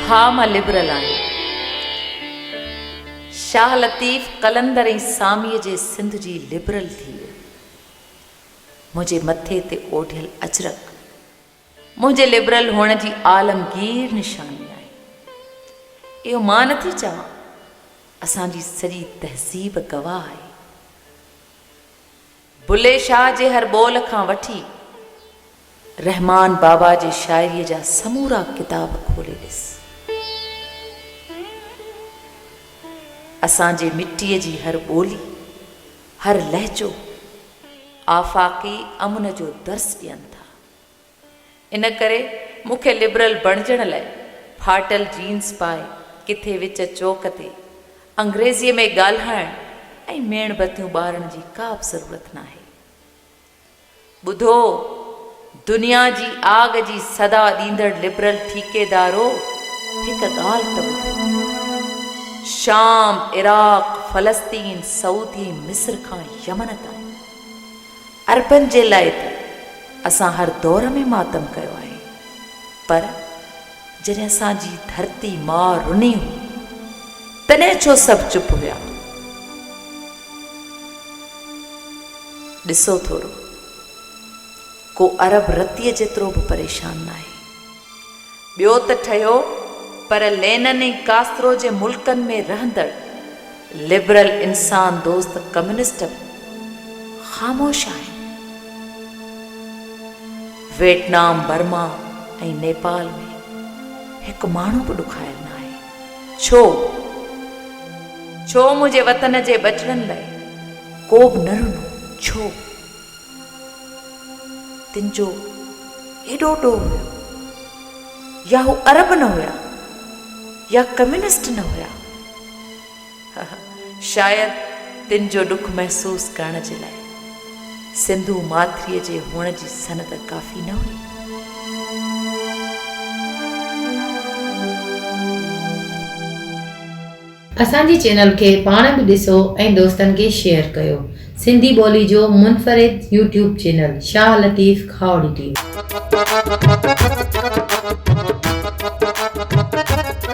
ها مان لبرل آهيان. شاهه لطيف قلندر ۽ ساميء جي سنڌ جي لبرل ٿي ويو. منهنجي مٿي تي اوڍيل اجرڪ منهنجي لبرل هئڻ جي عالمگير نشاني آهي. اهو مان نه ٿي چوان، اسان جي سڄي تهذيب گواهه آهي. بلي شاهه جي هر ٻول کان وٺي رحمان بابا جي شاعريء جا سمورا ڪتاب کولي ڏس. اسان جي مٽيء جي هر ٻولي، هر لهجو آفاقي امن جو درس ڏين ٿا. ان ڪري مون کي لبرل بڻجڻ لاء ڦاٽل جينز پائي ڪٿي وچ چوڪ تي انگريزيء ۾ ڳالهائڻ ۽ ميڻ بتيون ٻارڻ جي ڪا به ضرورت ناهي. ٻڌو دنيا جي آڳ جي صدا ڏيندڙ لبرل ٺيڪيدارو هڪ ڳالهه ته ٻڌو. شام، عراق، فلسطين، سعودي، مصر کان يمن تائين. عربن جي لاء ته اسان هر دور ۾ ماتم ڪيو آهي پر جڏهن اسان جي ڌرتي ماء رني هئي تڏهن ڇو سڀ چپ هيا؟ ڏسو ٿورو ڪو عرب رتيء جيترو به پريشان ناهي. ٻيو ته ٺهيو پر لينن ۽ ڪاسترو جي ملڪن ۾ رهندڙ لبرل انسان دوست ڪميونسٽ به خاموش آهن. ويٽنام، برما ۽ نيپال ۾ هڪ ماڻهو به ڏکايل نه آهي. ڇو؟ ڇو منهنجي وطن جي ٻچڙن لاء ڪوبه نه رنو؟ ڇو؟ تن جو هيڏو ڏوهه هيو، يا هو عرب نه هيا يا ڪميونسٽ نه هيا. شايد تن جو ڏک محسوس ڪرڻ جي لاء سنڌو ماٿريء جي هئڻ جي سند ڪافي نه هئي. اسان جي چينل کي پاڻ به ڏسو ۽ دوستن کي شيئر ڪيو سنڌي ٻولي جو منفرد YouTube channel Shah Latif Khahori T V.